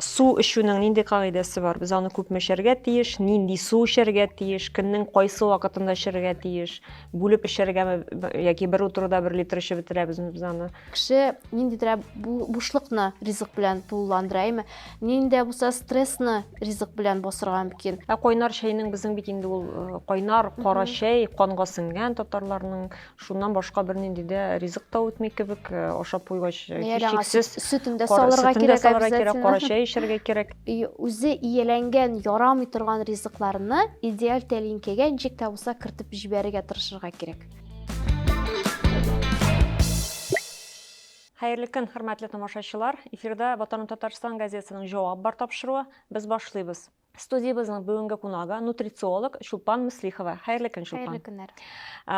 Су эчүнең нинди кагыйдәсе бар? Без аны күпме эчәргә тиеш? Нинди су эчәргә тиеш? Көннең кайсы вакытында эчәргә тиеш? Бүлеп эчәргәме яки бер утыруда бер литр эчеп бетерәбезме без аны? Кеше ниндидерәк бушлыкны ризык белән тулыландыра, әйме? Нинди дә булса стрессны ризык белән басырга мөмкин. Ә кайнар чәйнең безнең бит инде ул кайнар кара чәй, канга сеңгән татарларның Шуннан башка бернинди дә ризык та үтми кебек, э, ашап куйгач, э, Мейәләңә һичшиксез сөт- сөтен дә кара- салырга сөтен дә кирәк салырга кирәк, обязательно. кара чәй эчәргә кирәк. И- Үзе ияләнгән, ярамый торган ризыкларны идеаль тәлинкәгә ничек тә булса кертеп җибәрергә тырышырга кирәк. Хәерле көн, хөрмәтле тамашачылар! Эфирда Ватаным Татарстан газетасының Җавап бар тапшыруы. Без башлыйбыз. Студиябезнең бүгенге кунагы нутрициолог Чулпан Мөслихова. Хәерле көн, Чулпан. Хәерле көннәр.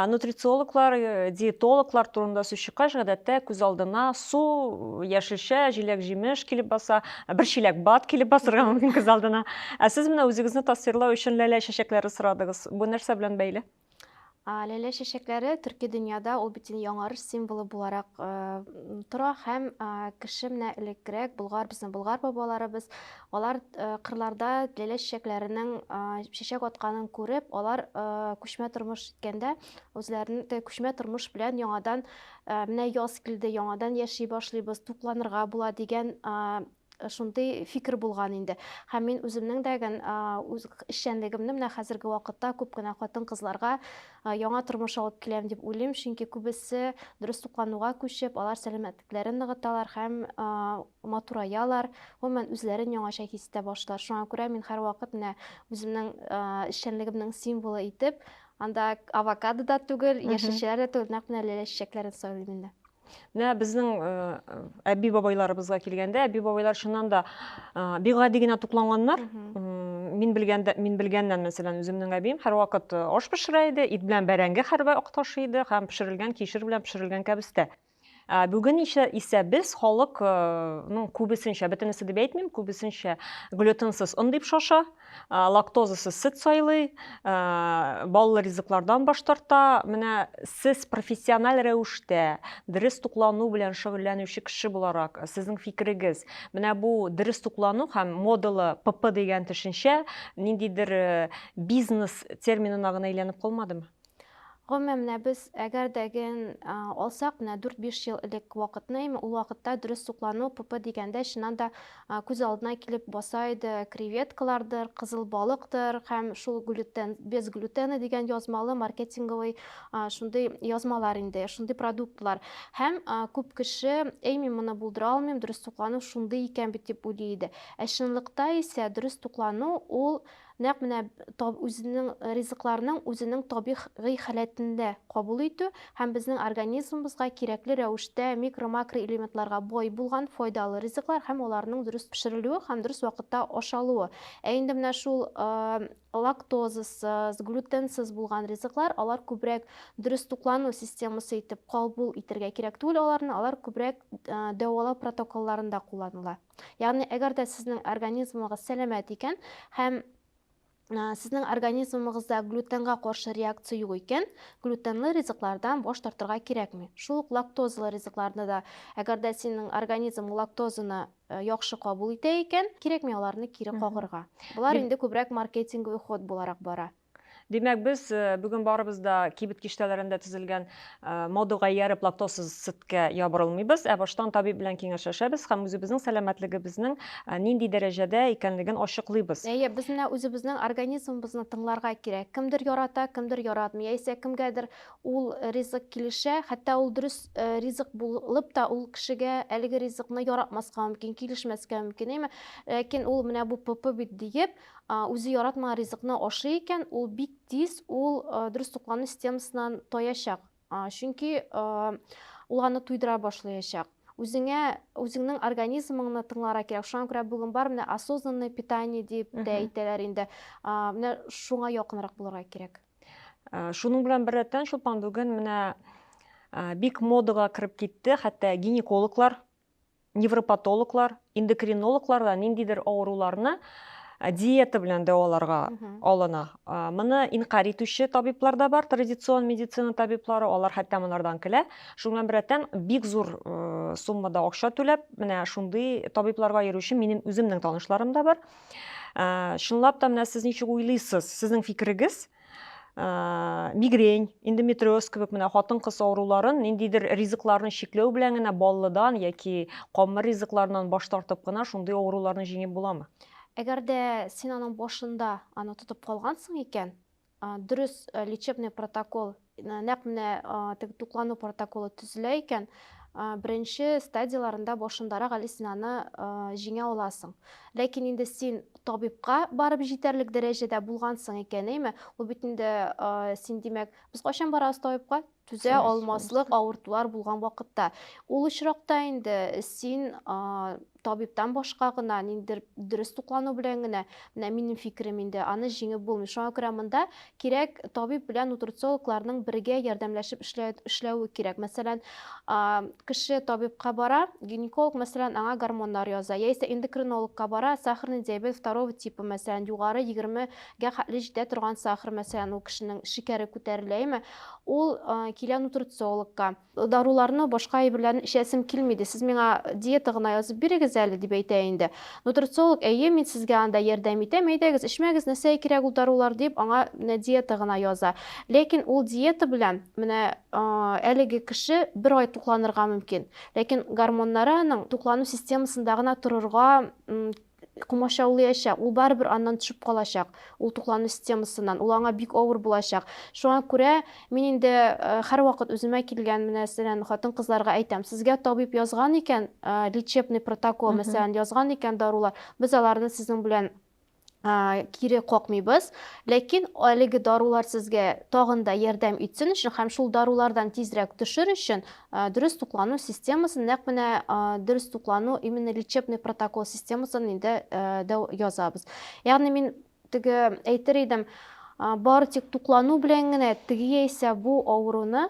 Нутрициологлар, э, диетологлар турында сүз чыккач, гадәттә күз алдына су, яшелчә, җиләк-җимеш килеп баса, бер чиләк бат килеп басырга мөмкин күз алдына. Ә сез менә үзегезне тасвирлау өчен ләлә чәчәкләре сорадыгыз. Бу нәрсә белән бәйле? Ләлә чәчәкләре төрки дөньяда ул бит яңарыш символы буларак тора һәм кеше менә элеккерәк булгар безнең булгар бабаларыбыз алар кырларда ләлә чәчәкләренең чәчәк атканын күреп алар күчмә тормыш иткәндә үзләрен күчмә тормыш белән яңадан менә яз килде яңадан яши башлыйбыз тукланырга була дигән шундый фикер булган инде. Һәм мин үземнең дә гән үз эшчәнлегемне менә хәзерге вакытта күп кенә хатын-кызларга яңа тормыш алып киләм дип уйлыйм, чөнки күбесе дөрес туклануга күчеп, алар сәламәтлекләрен ныгыталар һәм матураялар, гомумән, үзләрен яңача хис итә башлар. Шуңа күрә мин һәрвакыт менә үземнең эшчәнлегемнең символы итеп, анда авокадо да түгел, яшелчәләр дә түгел, нәкъ менә ләлә чәчәкләрен сайлыйм инде. Менә безнең э, әби бабайларыбызга килгәндә, әби бабайлар чыннан да э, бик гади генә тукланганнар. Мин белгәндә, мин белгәннән, мәсәлән, үземнең әбием һәрвакыт э, аш пешерә иде, ит белән бәрәңге һәрвакыт ташый иде һәм пешерелгән кишер белән пешерелгән кәбестә. Ә бүген исә, исә без халыкның күбесенчә, бөтенесе дип әйтмим, күбесенчә глютенсыз он дип шаша. лактозасыз сөт сайлый, баллы ризыклардан баш тарта. Менә сез профессиональ рәвештә дөрес туклану белән шөгыльләнүче кеше буларак, сезнең фикерегез, менә бу дөрес туклану һәм модалы ПП дигән төшенчә ниндидер бизнес терминына гына әйләнеп калмадымы? Гомумән, менә без әгәр дә ген алсак, менә 4-5 ел элек вакытны, әйме, ул вакытта дөрес суклану, ПП дигәндә, чыннан да күз алдына килеп баса иде креветкалардыр, кызыл балыктыр һәм шул глютен, без глютены дигән язмалы маркетинговый шундый язмалар инде, шундый продуктлар. Һәм күп кеше, әй, мин моны булдыра алмыйм, дөрес туклану шундый икән бит дип уйлый иде. Ә чынлыкта исә дөрес туклану ул, Нәкъ менә таб үзенең ризыкларның үзенең табих гый халәтендә кабул итү һәм безнең организмыбызга кирәкле рәвештә микро-макроэлементларга бай булган файдалы ризыклар һәм аларның дөрес пешерелүе һәм дөрес вакытта ашалуы. Ә инде менә шул лактозасыз, глютенсыз булган ризыклар, алар күбрәк дөрес туклану системасы итеп кабул итергә кирәк түгел аларны, алар күбрәк дәвалау протоколларында кулланыла. Ягъни, әгәр дә сезнең организмыгыз сәламәт икән һәм сезнең организмыгызда глютенга каршы реакция юк икән, глютенлы ризыклардан баш тартырга кирәкми. Шул ук лактозалы ризыкларны да, әгәр дә синең организм лактозаны э, яхшы кабул итә икән, кирәкми аларны кире кагырга. Болар инде күбрәк маркетинговый ход буларак бара. Димәк, без бүген барыбыз да кибет киштәләрендә төзелгән мода гаяреп лактозсыз сөткә ябырылмыйбыз, ә баштан табиб белән киңәшләшәбез һәм үзебезнең сәламәтлегебезнең нинди дәрәҗәдә икәнлеген ачыклыйбыз. Әйе, без менә үзебезнең организмыбызны тыңларга кирәк. Кемдер ярата, кемдер яратмый, яисә кемгәдер ул ризык килешә, хәтта ул дөрес ризык булып та, ул кешегә әлеге ризыкны яратмаска мөмкин, килешмәскә мөмкин, әйеме? Ләкин ул менә бу ПП бит диеп, Үзе яратмаган ризыкны ашый икән, ул бик тиз ул дөрес туклану системасыннан таячак. Чөнки ул аны туйдыра башлаячак. Үзеңә, үзеңнең организмыңны тыңлара кирәк. Шуңа күрә бүген бар менә осознанное питание дип тә әйтәләр инде. Менә шуңа якынрак булырга кирәк. Шуның белән беррәттән, Чулпан, бүген менә бик модага кереп китте, хәтта гинекологлар невропатологлар, эндокринологлар да ниндидер авыруларны диета белән дәваларга алына. Моны инкарь итүче табиблар да бар, традицион медицина табиблары, алар хәтта монардан көлә. Шуның белән беррәттән бик зур суммада акча түләп, менә шундый табибларга йөрүче минем үземнең танышларым да бар. Чынлап та менә сез ничек уйлыйсыз? Сезнең фикерегез? Э, мигрень, эндометриоз кебек менә хатын-кыз авыруларын ниндидер ризыкларны чикләү белән генә баллыдан яки камыр ризыкларыннан баш тартып кына шундый авыруларны җиңеп буламы? Әгәр дә син аның башында аны тотып калгансың икән, дөрес э, лечебный протокол Нәкъ менә теге туклану протоколы төзелә икән, беренче стадияләрендә башындарак әле син аны җиңә аласың. Ләкин инде син табибка барып җитәрлек дәрәҗәдә булгансың икән, әйме? Ул бит инде син, димәк, без кайчан барабыз табибка? Түзә алмаслык авыртулар булган вакытта. Ул очракта инде син табибтан башка гына, ниндидер дөрес туклану белән генә, менә минем фикерем инде, аны җиңеп булмый. Шуңа күрә монда кирәк табиб белән нутрициологларның бергә ярдәмләшеп эшләве кирәк. Мәсәлән, кеше табибка бара, гинеколог, мәсәлән, аңа гормоннар яза, яисә эндокринологка бара, сахарный диабет второго типа, мәсәлән, югары 20 гә хәтле җитә торган сахар, мәсәлән, ул кешенең шикәре күтәреләме, ул килә нутрициологка. Даруларны башка әйберләрне эчәсем килми иде, сез миңа диета гына язып бирегез әле, дип әйтә инде. Нутрициолог, Әйе, мин сезгә анда ярдәм итәм, әйдәгез, эчмәгез, нәрсәгә кирәк ул дарулар, дип, аңа менә диета гына яза. Ләкин ул диета белән менә әлеге кеше бер ай тукланырга мөмкин. Ләкин гормоннары аның туклану системасында гына торырга комачаулыячак, ул барыбер аннан төшеп калачак, ул туклану системасыннан, ул аңа бик авыр булачак. Шуңа күрә мин инде һәрвакыт үземә килгән, мәсәлән, хатын-кызларга әйтәм, сезгә табиб язган икән, лечебный протокол, мәсәлән, язган икән дарулар, без аларны сезнең белән кире какмыйбыз, ләкин әлеге дарулар сезгә тагын да ярдәм итсен өчен һәм шул дарулардан тизрәк төшер өчен, Ә, дөрес туклану системасын, нәкъ менә ә, дөрес туклану именно лечебный протокол системасын инде ә, дәү язабыз. Ягъни мин теге әйтер идем, ә, бары тик туклану белән генә теге яисә бу авыруны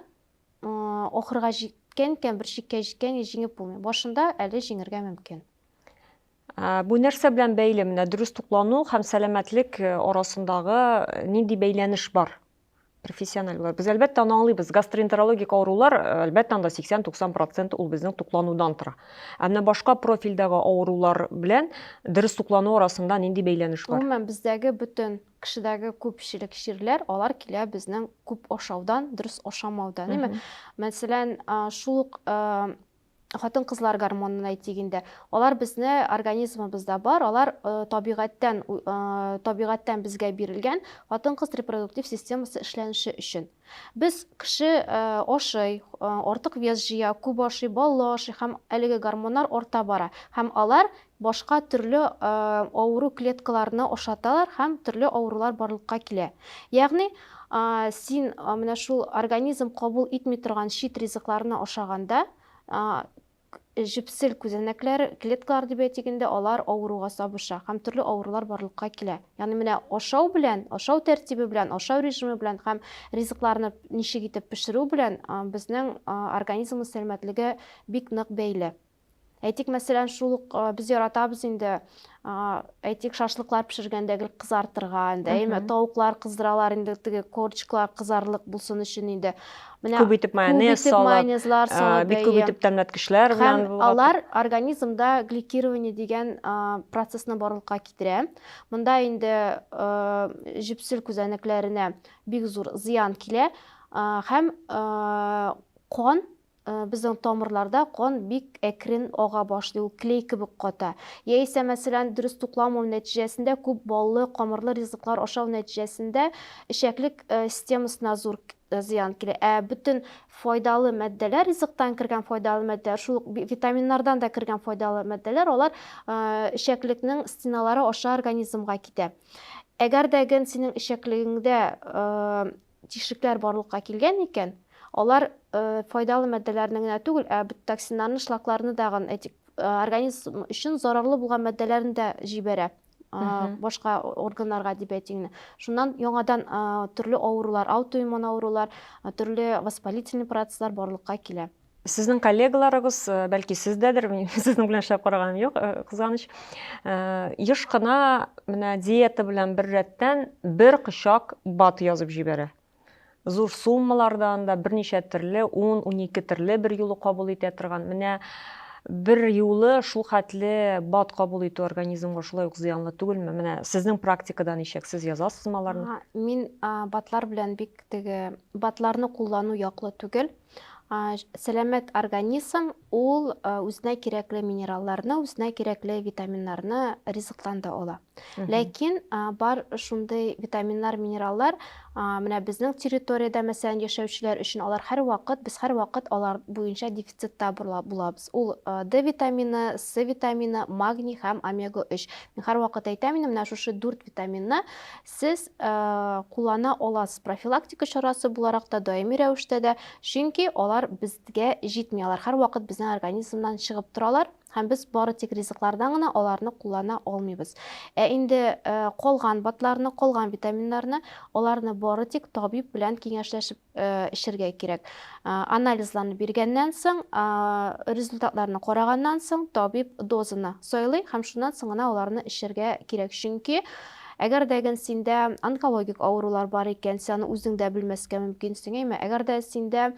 ахырга җиткән икән, бер чиккә җиткән и җиңеп булмый. Башында әле җиңергә мөмкин. Ә, бу нәрсә белән бәйле? Менә дөрес туклану һәм сәламәтлек э, арасындагы э, нинди бәйләнеш бар? Профессиональ булар. Без әлбәттә аны аңлыйбыз. Гастроэнтерологик авырулар, э, әлбәттә, анда 80-90% ул безнең тукланудан тора. Ә менә башка профильдәге авырулар белән дөрес туклану арасында нинди бәйләнеш бар? Гомумән, бездәге бөтен кешедәге күпчелек чирләр, алар килә безнең күп ашаудан, дөрес ашамаудан, әйме? Мәсәлән, шул ук хатын-кызлар гормонын әйтик инде. Алар безне организмыбызда бар, алар табигатьтән табигатьтән безгә бирелгән хатын-кыз репродуктив системасы эшләнеше өчен. Без кеше ашый, артык вес җыя, күп ашый, баллы ашый һәм әлеге гормоннар арта бара һәм алар Башка төрле авыру клеткаларына ошаталар һәм төрле авырулар барлыкка килә. Ягъни, син менә шул организм кабул итми торган чит ризыкларны ашаганда, җепсел күзәнәкләр, клеткалар дип әйтик инде, алар авыруга сабыша һәм төрле авырулар барлыкка килә. Ягъни менә ашау белән, ашау тәртибе белән, ашау режимы белән һәм ризыкларны ничек итеп пешерү белән безнең организмыбыз сәламәтлеге бик нык бәйле. Әйтик, мәсәлән, шул ук без яратабыз инде, әйтик, шашлыклар пешергәндә гел кызартырга, инде, әйме, тавыклар кыздыралар инде, теге корчиклар кызарлык булсын өчен инде. Менә күп итеп майонез салып, майонезлар салып, бик күп итеп тәмләткечләр белән. Һәм алар организмда гликирование дигән процессны барлыкка китерә. Монда инде җепсел күзәнәкләренә бик зур зыян килә һәм кан Безнең тамырларда кан бик әкрен ага башлый, ул клей кебек ката. Яисә, мәсәлән, дөрес тукламау нәтиҗәсендә күп баллы, камырлы ризыклар ашау нәтиҗәсендә эчәклек системасына зур зыян килә. Ә бөтен файдалы матдәләр, ризыктан кергән файдалы матдәләр, шул ук витаминнардан да кергән файдалы матдәләр, алар эчәклекнең стеналары аша организмга китә. Әгәр дә ген синең эчәклегеңдә тишекләр барлыкка килгән икән, алар файдалы матдәләрне генә түгел, ә токсиннарны, шлакларны дагын, этик, организм өчен зарарлы булган матдәләрне дә җибәрә башка органнарга дип әйтим шуннан яңадан төрле авырулар аутоиммун авырулар төрле воспалительный процесслар барлыкка килә Сезнең коллегаларыгыз, бәлки сез дәдер, мин сезнең белән эшләп караганым юк, кызганыч, еш кына менә диета белән бер рәттән бер кочак бат язып җибәрә. Зур суммаларда анда берничә төрле, 10-12 төрле бер юлы кабул итә торган. Менә бер юлы шул хәтле бат кабул итү организмга шулай ук зыянлы түгелме? Менә сезнең практикада ничек? Сез язасызмы аларны? Мин батлар белән бик теге, батларны куллану яклы түгел. Сәламәт организм ул үзенә кирәкле минералларны, үзенә кирәкле витаминнарны ризыктан да ала. Ләкин бар шундый витаминнар, минераллар менә безнең территориядә мәсәлән яшәүчеләр өчен алар һәрвакыт без һәрвакыт алар буенча дефицитта булабыз. Ул D витамины, C витамины, магний һәм омега 3. Мин һәрвакыт әйтәм инде менә шушы дүрт витаминны Сез куллана аласыз профилактика чарасы буларак та, даими рәвештә дә, чөнки алар безгә җитми, алар һәрвакыт безнең организмнан чыгып торалар һәм без бары тик ризыклардан гына аларны куллана алмыйбыз. Ә инде э, калган батларны, калган витаминнарны, аларны бары тик табиб белән киңәшләшеп эчәргә кирәк. Анализларны биргәннән соң, результатларны караганнан соң, табиб дозаны сайлый һәм шуннан соң гына аларны эчәргә кирәк. Чөнки әгәр дә ген синдә онкологик авырулар бар икән, син аны үзең дә белмәскә мөмкинсең, әйме? Әгәр дә синдә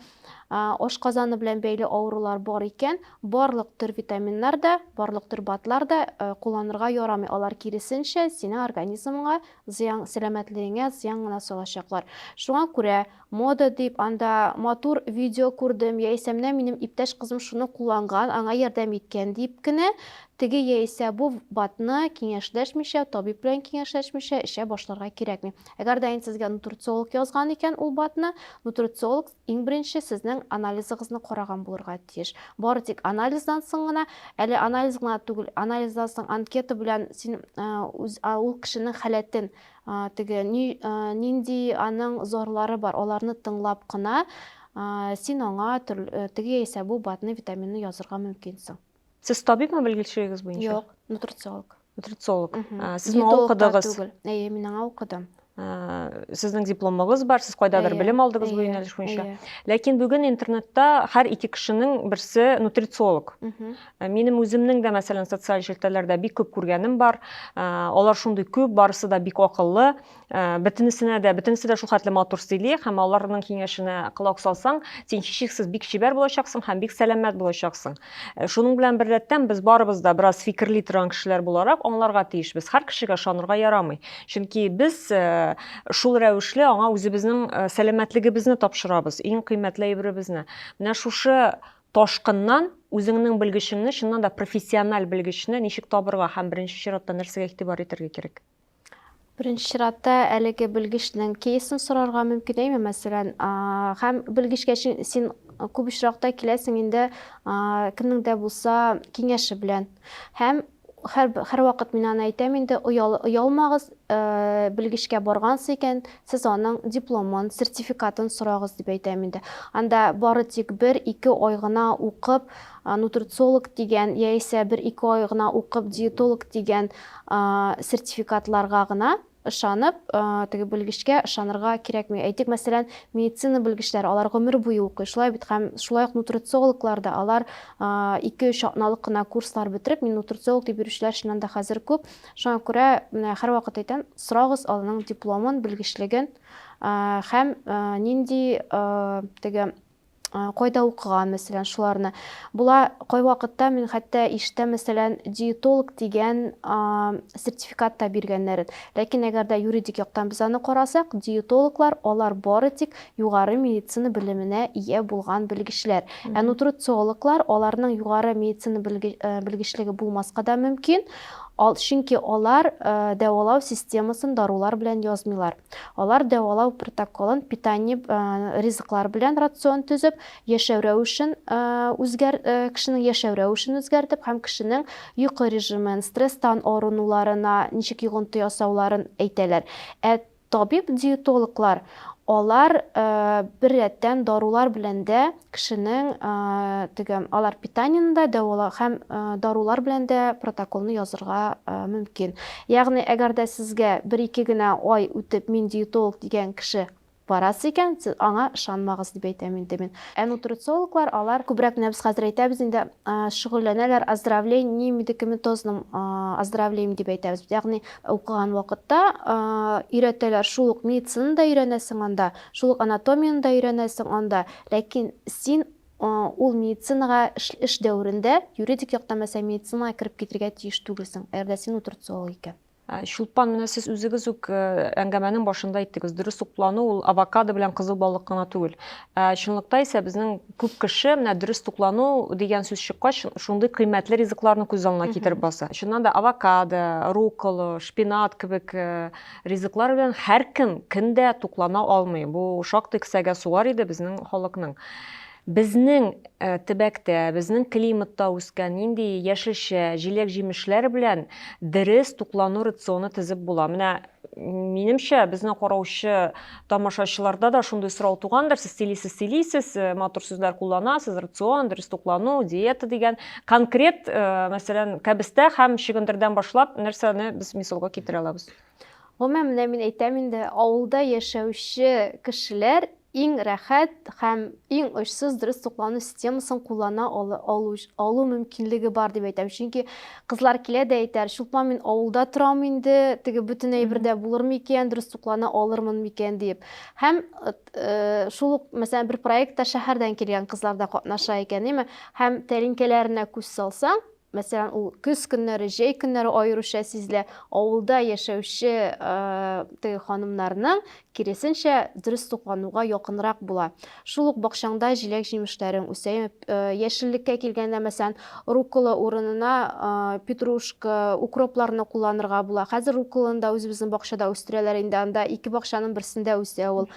ашказаны белән бәйле авырулар бар икән, барлык төр витаминнар да, барлык төр БАДлар да кулланырга ярамый. Алар киресенчә, синең организмыңа Зыян сәламәтлегеңә зыян гына салачаклар. Шуңа күрә, мода дип, анда матур видео күрдем, яисә менә минем иптәш кызым шуны кулланган, аңа ярдәм иткән дип кенә, теге яисә бу ВБАТны киңәшләшмичә, табиб белән киңәшләшмичә эчә башларга кирәкми. Әгәр дә инде сезгә нутрициолог язган икән ул БАТны, нутрициолог Иң беренче сезнең анализыгызны караган булырга тиеш. Бары тик анализдан соң гына, әле анализ гына түгел, анализдан соң анкета белән син ул кешенең халәтен, теге нинди аның зарлары бар, аларны тыңлап кына син аңа теге яисә бу БАДны, витаминны язырга мөмкинсең. Сез табибмы белгечлегегез буенча? Юк, нутрициолог. Нутрициолог. Сез моңа укыдыгыз? Әйе, мин аңа укыдым. Сезнең дипломыгыз бар, сез кайдадыр белем алдыгыз бу юнәлеш буенча. Ләкин бүген интернетта һәр ике кешенең берсе нутрициолог. Минем үземнең дә, мәсәлән, социаль челтәрләрдә бик күп күргәнем бар. Алар шундый күп, барысы да бик акыллы. Э, бөтенесенә дә бөтенесе дә шул хәтле матур сөйли һәм аларның киңәшенә колак салсаң син һичшиксез бик чибәр булачаксың һәм бик сәламәт булачаксың э, шуның белән беррәттән без барыбыз да бераз фикерли торган кешеләр буларак аңларга тиешбез һәр кешегә ышанырга ярамый чөнки без э, шул рәвешле аңа үзебезнең сәламәтлегебезне тапшырабыз иң кыйммәтле әйберебезне менә шушы ташкыннан үзеңнең белгечеңне чыннан да профессиональ белгечне ничек табырга һәм беренче чиратта нәрсәгә игътибар итәргә кирәк Беренче чиратта әлеге белгечнең кейсын сорарга мөмкин әйме, мәсәлән, һәм белгечкә син күп очракта киләсең инде кемнең дә булса киңәше белән. Һәм һәр, һәр вакыт мин аны әйтәм инде, оял, оялмагыз, ә, белгечкә баргансыз икән, сез аның дипломын, сертификатын сорагыз дип әйтәм инде. Анда бары тик бер, ике ай гына укып, нутрициолог дигән яисә бер-ике ай гына укып диетолог дигән сертификатларга гына ышанып, теге белгечкә ышанырга кирәкми. Әйтик, мәсәлән, медицина белгечләре, алар гомер буе укый, шулай бит, һәм шулай ук нутрициологлар да, алар ике-өч атналык кына курслар бетереп, мин нутрициолог дип йөрүчеләр чыннан да хәзер күп. Шуңа күрә, менә һәрвакыт әйтәм, сорагыз аның дипломын, белгечлеген һәм нинди теге кайда укыган, мәсәлән, шуларны. Була, кайвакытта мин хәтта иштә, мәсәлән, диетолог дигән сертификат та биргәннәрен. Ләкин әгәр дә юридик яктан без аны карасак, диетологлар, алар бары тик югары медицина белеменә ия булган белгечләр. Ә нутрициологлар, аларның югары медицина белгечлеге булмаска да мөмкин, чөнки алар дәвалау системасын дарулар белән язмыйлар. Алар дәвалау протоколын, питание, ризыклар белән рацион төзеп, яшәү рәвешен үзгәр, кешенең яшәү рәвешен үзгәртеп һәм кешенең йокы режимын, стресстан арынуларына ничек йогынты ясауларын әйтәләр. Ә табиб-диетологлар алар беррәттән дарулар белән дә Кешенең теге алар питаниене дә дәвалау һәм дарулар белән дә протоколны язырга мөмкин. Ягъни, әгәр дә сезгә бер-ике генә ай үтеп мин диетолог дигән кеше барасы икән, сез аңа ышанмагыз дип әйтәм инде мин. Ә нутрициологлар алар күбрәк менә без хәзер әйтәбез инде шөгыльләнәләр оздоровлением медикаментозным оздоровлением дип әйтәбез. Ягъни, укыган вакытта өйрәтәләр шул ук медицинаны да өйрәнәсең анда, Шул ук анатомияне дә өйрәнәсең анда, ләкин син ул медицинага эш дәверендә юридик яктан мәсәлән медицинага кереп китергә тиеш түгелсең, әгәр дә син утырт зоолог икән. Чулпан, менә сез үзегез үк әңгәмәнең башында әйттегез, дөрес туклану ул авокадо белән кызыл балык кына түгел. Ә чынлыкта исә безнең күп кеше менә дөрес туклану дигән сүз чыккач, шундый кыйммәтле ризыкларны күз алдына китереп баса. Чыннан да авокадо, руккола, шпинат кебек Ризыклар белән һәркем кем дә туклана алмый. Бу шактый кесәгә сугар иде безнең халыкның. Безнең э, төбәктә, безнең климатта үскән нинди яшелчә, җиләк-җимешләр белән дөрес туклану рационы тезеп була. Менә минемчә, безне караучы Тамашачыларда да шундый сорау тугандыр, сез сөйлисез, сөйлисез, э, матур сүзләр кулланасыз, рацион, дөрес туклану, диета дигән. Конкрет, э, мәсәлән, кәбестә һәм чөгендердән башлап нәрсәне без мисалга китерә алабыз? Гомумән, менә мин әйтәм инде, авылда яшәүче кешеләр иң рәхәт һәм иң очсыз дөрес туклану системасын куллана алу мөмкинлеге бар дип әйтәм чөнки Кызлар килә дә әйтәр, Чулпан, мин авылда торам инде, теге бөтен әйбер дә булыр микән, дөрес туклана алырмын микән диеп. Һәм шул ук, мәсәлән, бер проектта шәһәрдән килгән кызлар да катнаша икән, әйме? Һәм тәлинкәләренә күз салсаң, мәсәлән, ул көз көннәре, җәй көннәре аеруча сизелә, авылда яшәүче теге ханымнарның Киресенчә, дөрес туклануга якынрак була. Шул ук бакчаңда җиләк-җимешләрең үсә. Яшеллеккә килгәндә, мәсәлән, руккола урынына петрушка, укропларны кулланырга була. Хәзер рукколаны да үзебезнең бакчада үстерәләр инде, анда ике бакчаның берсендә үсә ул.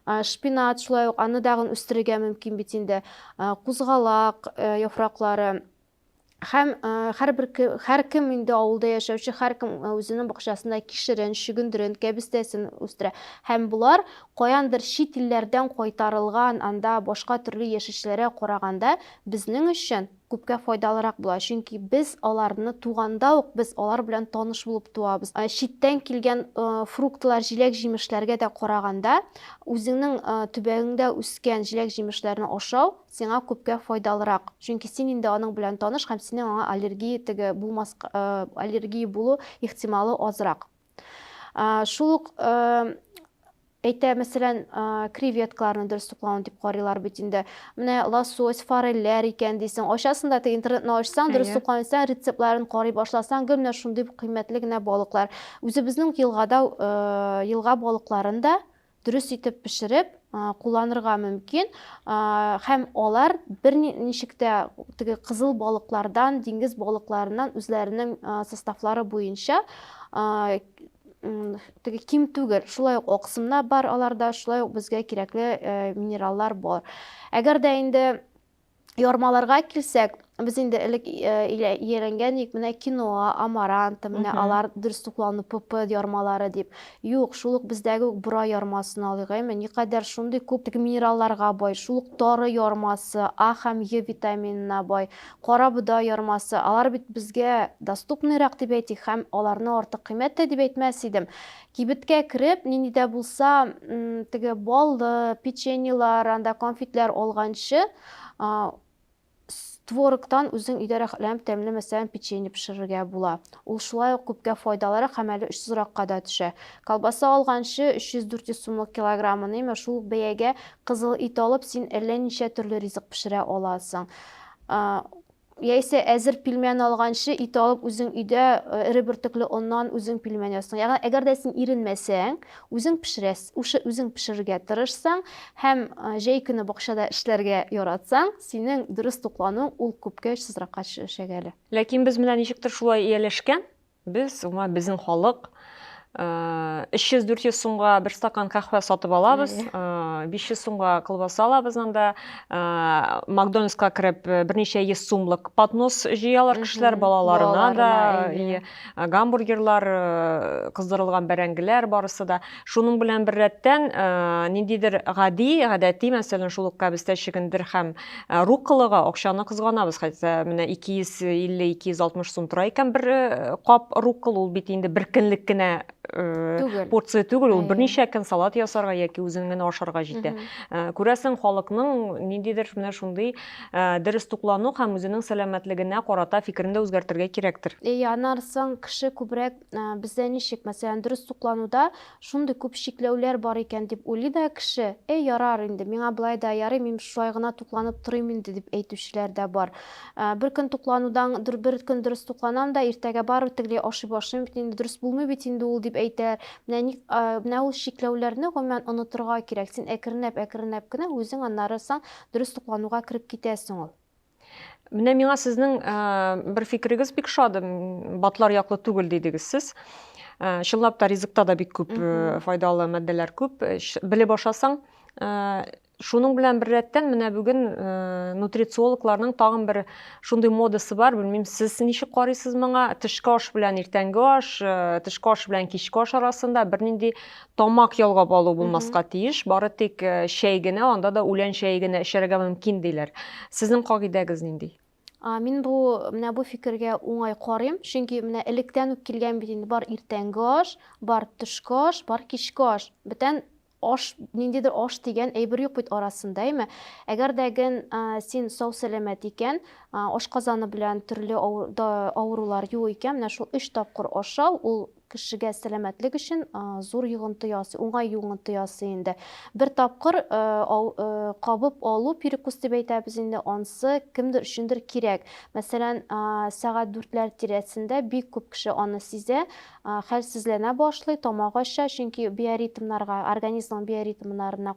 Шпинат шулай ук, аны дагын үстерергә мөмкин бит инде. Кузгалак яфраклары. Һәм һәрбер һәркем инде авылда яшәүче һәркем үзенең бакчасында кишерен, чөгендерен, кәбестәсен үстерә. Һәм болар каяндыр чит илләрдән кайтарылган анда башка төрле яшелчәләргә караганда безнең өчен күпкә файдалырак була. Чөнки без аларны туганда ук без алар белән таныш булып туабыз. Читтән килгән фруктлар, җиләк-җимешләргә дә караганда, үзеңнең төбәгеңдә үскән җиләк-җимешләрне ашау сиңа күпкә файдалырак, чөнки син инде аның белән таныш һәм синең аңа аллергия теге булмаска, аллергия булу ихтималы азрак. Шул ук әйтә, мәсәлән, креветкаларны дөрес туклауны дип карыйлар бит инде. Менә лосось, форельләр икән дисең. Ачасың да теге интернетны ачсаң, дөрес туклау исән, рецептларын карый башласаң, гел менә шундый кыйммәтле генә балыклар. Үзебезнең елгада елга балыкларын да дөрес итеп пешереп кулланырга мөмкин һәм алар бер ничек тә теге кызыл балыклардан диңгез балыкларыннан үзләренең составлары буенча теге ким түгел шулай ук аксымнар бар аларда шулай ук безгә кирәкле минераллар бар әгәр дә инде ярмаларга килсәк, без инде элек ияләнгән ик, менә киноа, амаранта, менә алар дөрес туклану ПП ярмалары дип. Юк, шул ук бездәге үк бора ярмасын алыйк, әйме, никадәр шундый күп теге минералларга бай, шул ук тары ярмасы, А һәм Е витаминына бай, кара бодай ярмасы, алар бит безгә доступныйрак дип әйтик һәм аларны артык кыйммәт тә дип әйтмәс идем. Кибеткә кереп, нинди дә булса теге баллы печеньелар, анда конфетлар алганчы, твороктан үзең өйдә рәхәтләнеп тәмле мәсәлән печенье пешерергә була. Ул шулай ук күпкә файдалырак һәм әле очсызракка да төшә. Колбаса алганчы 300-400 сумлык килограммын, әмма шул ук бәягә кызыл ит алып, син әллә ничә төрле ризык пешерә аласың. Яисә әзер пилмән алганчы, ит алып, үзең өйдә эре бөртекле оннан үзең пилмән ясыйсың. Ягъни, әгәр дә син иренмәсәң, үзең пешерәс, ушы үзең пешерергә тырышсаң һәм җәй көне бакчада эшләргә яратсаң, синең дөрес туклануың ул күпкә очсызракка төшәчәк әле. Ләкин без менә ничектер шулай ияләшкән. Без, гомумән, безнең халык 300-400 сумга бер стакан кахвә сатып алабыз, 500 сумга колбаса алабыз анда, Макдональдска кереп берничә йөз сумлык поднос җыялар кешеләр балаларына да, гамбургерлар, кыздырылган бәрәңгеләр барысы да. Шуның белән беррәттән э, ниндидер гади, гадәти, мәсәлән, шул ук кәбестә чигендер һәм э, руккалага акчаны кызганабыз. Хәтта менә 250-260 сум тора икән бер э, кап руккал, ул бит инде бер көнлек кенә Түгел. порция түгел, ул берничә көн салат ясарга яки үзең генә ашарга җитә. Күрәсең, халыкның ниндидер менә шундый дөрес туклану һәм үзенең сәламәтлегенә карата фикерен дә үзгәртергә кирәктер. Әйе, аннан соң кеше күбрәк Ә, Бездә ничек, мәсәлән, дөрес туклануда шундый күп чикләүләр бар икән дип уйлый да кеше, әй, ярар инде, миңа болай да ярый, мин шулай гына тукланып торыйм инде дип әйтүчеләр дә бар. Ә, Бер көн тукланудан, дор- бер көн дөрес тукланам да, иртәгә барыбер тегеләй ашый башлыйм бит инде, дөрес булмый бит инде ул дип әйтәләр. Менә ник, ә, менә ул чикләүләрне гомумән онытырга кирәк. Син әкренләп, әкренләп кенә үзең аннары соң дөрес туклануга кереп китәсең ул. Менә миңа сезнең э, бер фикерегез бик шады, батлар яклы түгел дидегез сез. Э, чынлап та ризыкта да бик күп э, файдалы матдәләр күп. Белеп ашасаң, шуның белән бер рәттән менә бүген нутрициологларның тагын бер шундый модасы бар. Белмим, сез ничек карыйсыз моңа? Тышкы аш белән иртәнге аш, тышкы аш белән кичке аш арасында бернинди тамак ялгап алу булмаска тиеш, бары тик э, чәй генә, анда да үлән чәе генә эчәргә мөмкин диләр. Сезнең кагыйдәгез нинди? Мин бу менә бу фикергә уңай карыйм, чөнки менә электән үк килгән бит инде бар иртәнге аш, бар төшке аш, бар кичке аш. Бүтән аш, ниндидер аш дигән әйбер юк бит арасында, әйме? Әгәр дә ген син сау сәламәт икән, ашказаны белән төрле авырулар юк икән, менә шул өч тапкыр ашау ул Кешегә сәламәтлек өчен зур йогынты ясый, уңай йогынты ясый инде. Бер тапкыр кабып алу перекус дип әйтәбез инде, ансы кемдер өчендер кирәк. Мәсәлән, сәгать дүртләр тирәсендә бик күп кеше аны сизә, хәлсезләнә башлый, тамак ача, чөнки биоритмнарга, организмның биоритмнарына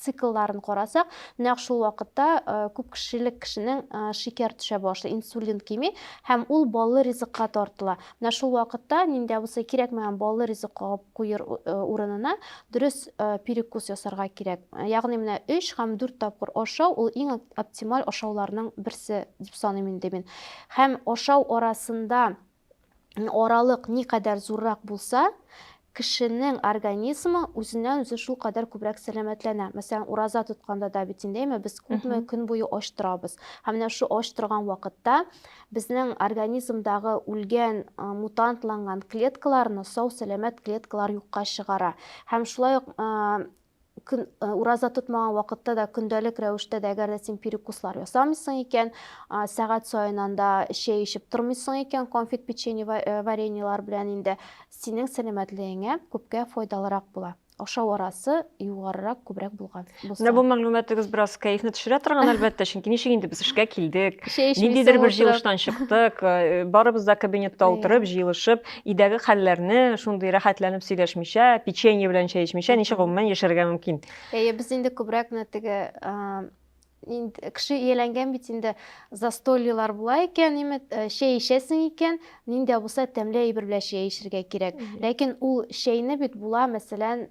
циклларын карасак, нәкъ шул вакытта күп кешелек кешенең шикәр төшә башлый, инсулин кими һәм ул баллы ризыкка тартыла. Менә шул вакытта нинди абысый кирәкмәгән баллы ризык кагып куер урынына дөрес перекус ясарга кирәк. Ягъни менә өч һәм дүрт тапкыр ашау ул иң оптималь ашауларның берсе дип саныйм инде мин. Һәм ашау арасында аралык никадәр зуррак булса, Кешенең организмы үзеннән-үзе шулкадәр күбрәк сәламәтләнә. Мәсәлән, ураза тотканда да бит инде, әйме, без күпме көн буе ач торабыз. Һәм менә шул ач торган вакытта безнең организмдагы үлгән, мутантланган клеткаларны сау-сәламәт клеткалар юкка чыгара. Һәм шулай ук көн, э, ураза тотмаган вакытта да көндәлек рәвештә дә әгәр дә син перекуслар ясамыйсың икән, э, сәгать саен анда чәй эчеп тормыйсың икән, конфет, печенье, э, вареньелар белән инде синең сәламәтлегеңә күпкә файдалырак була. Ашау арасы югарырак, күбрәк булган булса. Менә бу мәгълүматыгыз бераз кәефне төшерә торган, әлбәттә, чөнки ничек инде без эшкә килдек, ниндидер бер җыелыштан чыктык, э, барыбыз да кабинетта утырып, җыелышып, Өйдәге хәлләрне шундый рәхәтләнеп сөйләшмичә, печенье белән чәй эчмичә ничек гомумән яшәргә мөмкин? Әйе, без инде күбрәк менә теге инде кеше ияләнгән бит инде застольелар була икән ниме э, чәй эчәсең икән нинди дә булса тәмле әйбер белән чәй эчәргә кирәк ләкин ул чәйне бит була мәсәлән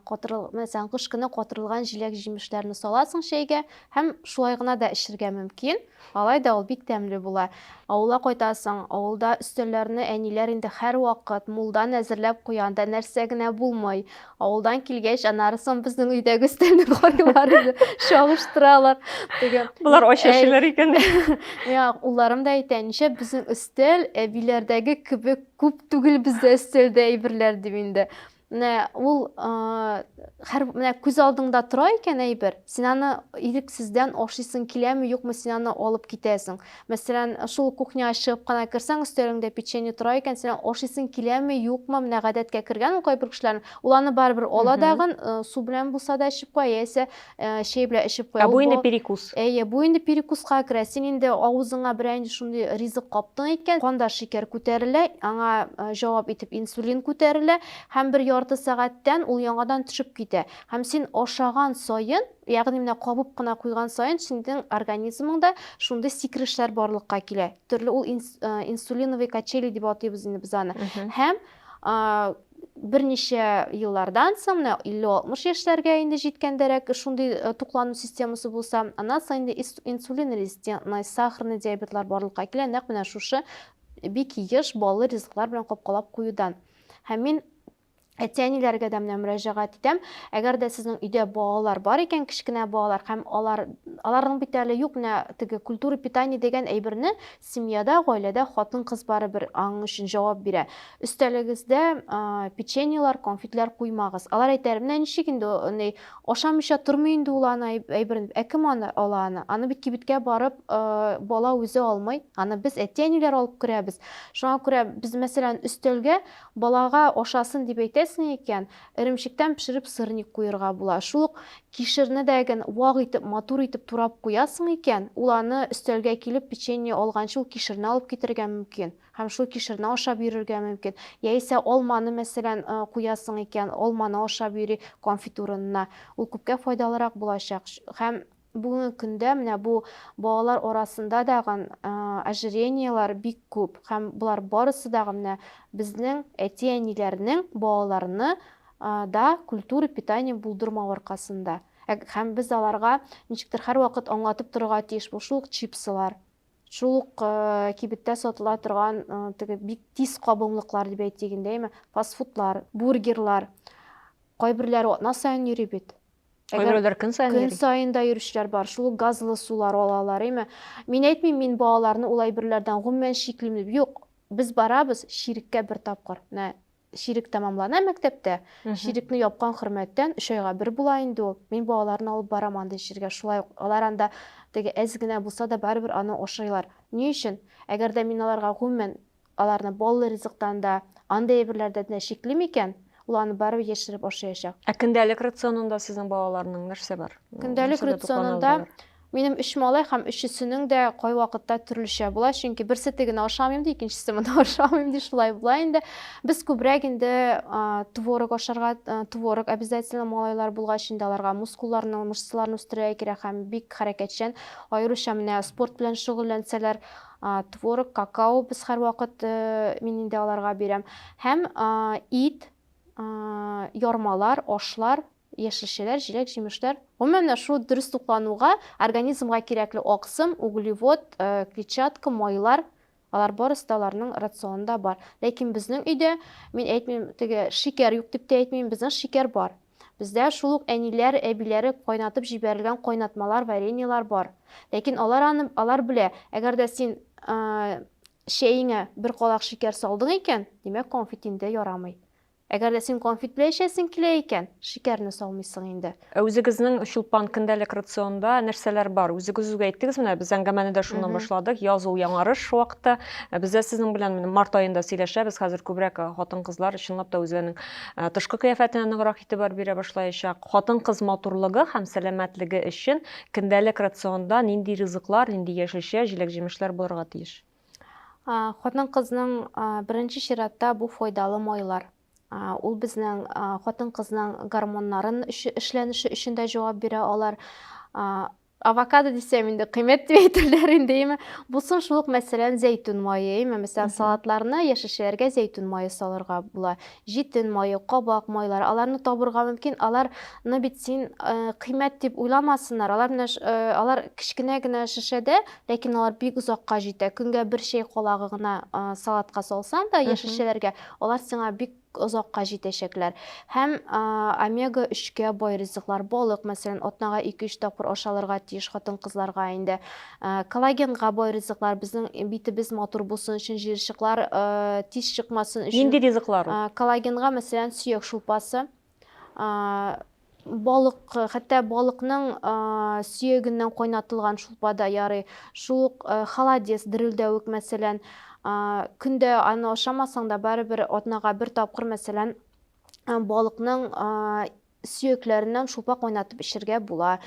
катырыл мәсәлән кыш көне катырылган җиләк җимешләрне саласың чәйгә һәм шулай гына да эчәргә мөмкин Алай да ул бик тәмле була. Авылга кайтасың, авылда өстәлләрне әниләр инде һәрвакыт мулдан әзерләп куя, анда нәрсә генә булмый. Авылдан килгәч, аннары соң безнең өйдәге өстәлне карыйлар инде, чагыштыралар. Теге Болар ач әй, яшиләр икән. миңа улларым да әйтә, ничә безнең өстәл әбиләрдәге кебек күп түгел бездә өстәлдә әйберләр дип инде. Менә ул хәр менә күз алдыңда тора икән әйбер, син аны ирексездән ашыйсың киләме, юкмы, син аны алып китәсең. Мәсәлән, шул кухняга чыгып кына керсәң, өстәлеңдә печенье тора икән, син аны ашыйсың киләме, юкмы, менә гадәткә кергән ул кайбер кешеләрнең, ул аны барыбер ала дагын, су белән булса да эчеп куя, яисә Ә, чәй белән эчеп куя. Ә бу инде перекус. Әйе, бу инде перекуска керә. Син инде авызыңа берәр инде шундый ризык каптың икән, канда шикәр күтәрелә, аңа җавап итеп инсулин күтәрелә һәм бер ярты сәгатьтән ул яңадан төшеп китә. Һәм син ашаган саен, ягъни менә кабып кына куйган саен синең организмыңда шундый сикерешләр барлыкка килә. Төрле ул инсулиновый качели дип атыйбыз инде без аны. Һәм берничә еллардан соң, менә 50-60 яшьләргә инде җиткәндәрәк шундый э, туклану системасы булса, аннан соң инде инсулин резистентный, сахарный диабетлар барлыкка килә, нәкъ менә шушы бик еш баллы ризыклар белән капкалап куюдан. Һәм мин әти-әниләргә дә менә мөрәҗәгать итәм. Әгәр дә сезнең өйдә балалар бар икән, кечкенә балалар һәм алар аларның бит әле юк менә теге культура питания дигән әйберне Семьяда, гаиләдә хатын-кыз барыбер аның өчен җавап бирә. Өстәлегездә печеньелар, конфетлар куймагыз. Алар әйтәр, менә ничек инде андый, ашамыйча тормый инде ул аны әйберен дип. Ә кем аны ала аны? Аны бит кибеткә барып бала үзе алмый. Аны без әти-әниләр алып керәбез. Шуңа күрә без, мәсәлән, өстәлгә балага ашасын дип әйтәсең икән, Эремчектән пешереп сырник куерга була. Шул ук кишерне дә ген вак итеп, матур итеп турап куясың икән, ул аны өстәлгә килеп печенье алганчы ул кишерне алып китәргә мөмкин һәм шул кишерне ашап йөрергә мөмкин. Яисә алманы, мәсәлән, куясың икән, алманы ашап йөри конфитурынына. Ул күпкә файдалырак булачак һәм. Бүгенге көндә менә бу балалар арасында дагын ожирениелар бик күп һәм болар барысы дагы менә безнең әти-әниләрнең балаларны да культура питания булдырмау аркасында. Һәм без аларга ничектер һәрвакыт аңлатып торырга тиеш, бу шул ук чипсылар, шул ук кибеттә сатыла торган теге бик тиз кабымлыклар дип әйтик инде, әйме, фастфудлар, бургерлар. Кайберләре атна саен йөри бит. Әгәр көн саен көн саен да йөрүчеләр бар, шул ук газлы сулар алалар, әйме? Мин әйтмим, мин балаларны ул әйберләрдән гомумән чиклим дип. Юк, без барабыз чиреккә бер тапкыр. Менә чирек тәмамлана мәктәптә, чирекне япкан хөрмәттән өч айга бер була инде ул. Мин балаларны алып барам андый җиргә, шулай ук алар анда теге әз генә булса да барыбер аны ашыйлар. Ни өчен? Әгәр дә мин аларга гомумән Аларны баллы ризыктан да, андый әйберләрдән дә чиклим икән, ул аны барыбер яшереп ашаячак. Ә көндәлек рационында сезнең балаларның нәрсә бар? Көндәлек рационында минем өч малай һәм өчесенең дә кайвакытта төрлечә була, чөнки берсе тегене ашамыйм ди, икенчесе моны ашамыйм ди, шулай була инде. Без күбрәк инде творог ашарга, творог обязательно малайлар булгач инде аларга мускулларны, мышцаларны үстерергә кирәк һәм бик хәрәкәтчән, аеруча менә спорт белән шөгыльләнсәләр, Творог, какао без һәрвакыт мин инде аларга бирәм. Һәм ит, ярмалар, ашлар, яшелчәләр, җиләк, җимешләр. Гомумән дә шул дөрес туклануга организмга кирәкле аксым, углевод, клетчатка, майлар, алар барысы да аларның рационында бар. Ләкин безнең өйдә, мин әйтмим, теге шикәр юк дип тә әйтмим, безнең шикәр бар. Бездә шул ук әниләр, әбиләре кайнатып җибәрелгән кайнатмалар, вареньелар бар. Ләкин алар аны, алар белә, әгәр дә син чәеңә бер калак шикәр салдың икән, димәк, конфит инде ярамый. Әгәр дә син конфит белән эчәсең килә икән, шикәрне салмыйсың инде. Ә үзегезнең Чулпан көндәлек рационда нәрсәләр бар? Үзегез үк әйттегез, менә без әңгәмәне дә шуннан башладык. Яз ул яңарыш вакыты. Без дә сезнең белән март аенда сөйләшәбез. Хәзер күбрәк хатын-кызлар чынлап та үзләренең Ә, тышкы кыяфәтенә ныграк игътибар бирә башлаячак. Хатын-кыз матурлыгы һәм сәламәтлеге өчен көндәлек рационда нинди ризыклар, нинди яшелчә, җиләк-җимешләр булырга тиеш? А, Хатын-кызның а, беренче чиратта бу файдалы майлар. А, Ул безнең а, хатын-кызның гормоннарын өче- эшләнеше өчен дә җавап бирә. Алар а, Авокадо дисәм инде кыйммәт дип әйтерләр инде, әйме. Булсын шул ук мәсәлән зәйтүн мае, әйме. Мәсәлән, салатларны, яшелчәләргә зәйтүн мае салырга була. Җитен мае, кабак майлары, аларны табырга мөмкин. Аларны бит син э, кыйммәт дип уйламасыннар. Алар менә э, алар кечкенә генә шешәдә, ләкин алар бик озакка җитә. Көнгә бер чәй колагы гына э, салатка салсаң да яшелчәләргә, алар сиңа бик озакка җитәчәкләр. Һәм омега өчкә бай ризыклар, балык, мәсәлән, атнага ике-өч тапкыр ашалырга тиеш хатын-кызларга инде. Коллагенга бай ризыклар, безнең битебез матур булсын өчен, җыерчыклар тиз чыкмасын өчен. Нинди ризыклар ул? Коллагенга, мәсәлән, сөяк шулпасы, Балык, хәтта балыкның сөягеннән кайнатылган шулпа да ярый. Шул ук холодец, дерелдәвек, мәсәлән. Көндә аны ашамасаң да, барыбер атнага бер тапкыр, мәсәлән, балыкның сөякләреннән шулпа кайнатып эчергә була.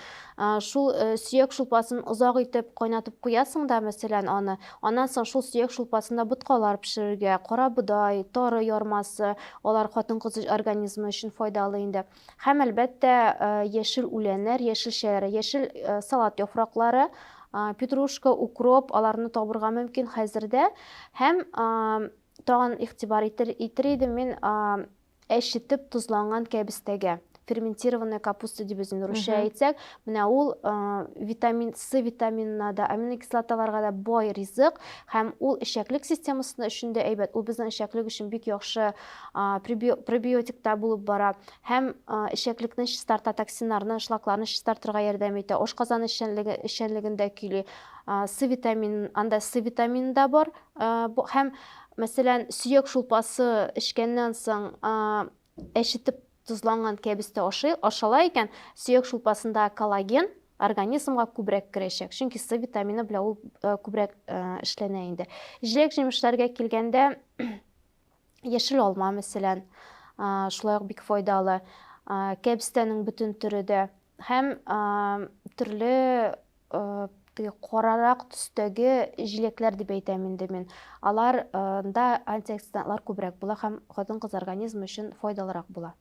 Шул сөяк шулпасын озак итеп кайнатып куясың да, мәсәлән, аны Аннан соң шул сөяк шулпасында боткалар пешерергә, карабодай, тары ярмасы, алар хатын-кыз организмы өчен файдалы инде. Һәм, әлбәттә, яшел үләннәр, яшелчәләр, яшел салат яфраклары, петрушка, укроп, аларны табырга мөмкин хәзердә. Һәм тагын игътибар итер идем мин Әч җитеп тозланган кәбестәгә, ферментированная капуста дип үзен русча әйтсәк, менә ул витамин С витаминына да, аминокислоталарга да бай ризык һәм ул эчәклек системасына өчен дә әйбәт. Ул безнең эчәклек өчен бик яхшы пробиотик та булып бара һәм эчәклекне чистарта, токсиннарны, шлакларны чистартырга ярдәм итә. Ашказан эшчәнлеге эшчәнлегендә көйли. С витамин, анда С витамины да бар, Һәм, мәсәлән, сөяк шулпасы эчкәннән соң әчетеп тозланган кәбес тә ашала икән, сөяк шулпасында коллаген организмга күбрәк керәчәк, чөнки С витамины белән ул күбрәк эшләнә инде. Җиләк-җимешләргә килгәндә, Яшел алма, мәсәлән, шулай ук бик файдалы. Кәбестәнең бөтен төре дә һәм төрле теге карарак төстәге җиләкләр дип әйтәм инде мин. Аларда антиоксидантлар күбрәк була һәм хатын-кыз организмы өчен файдалырак була.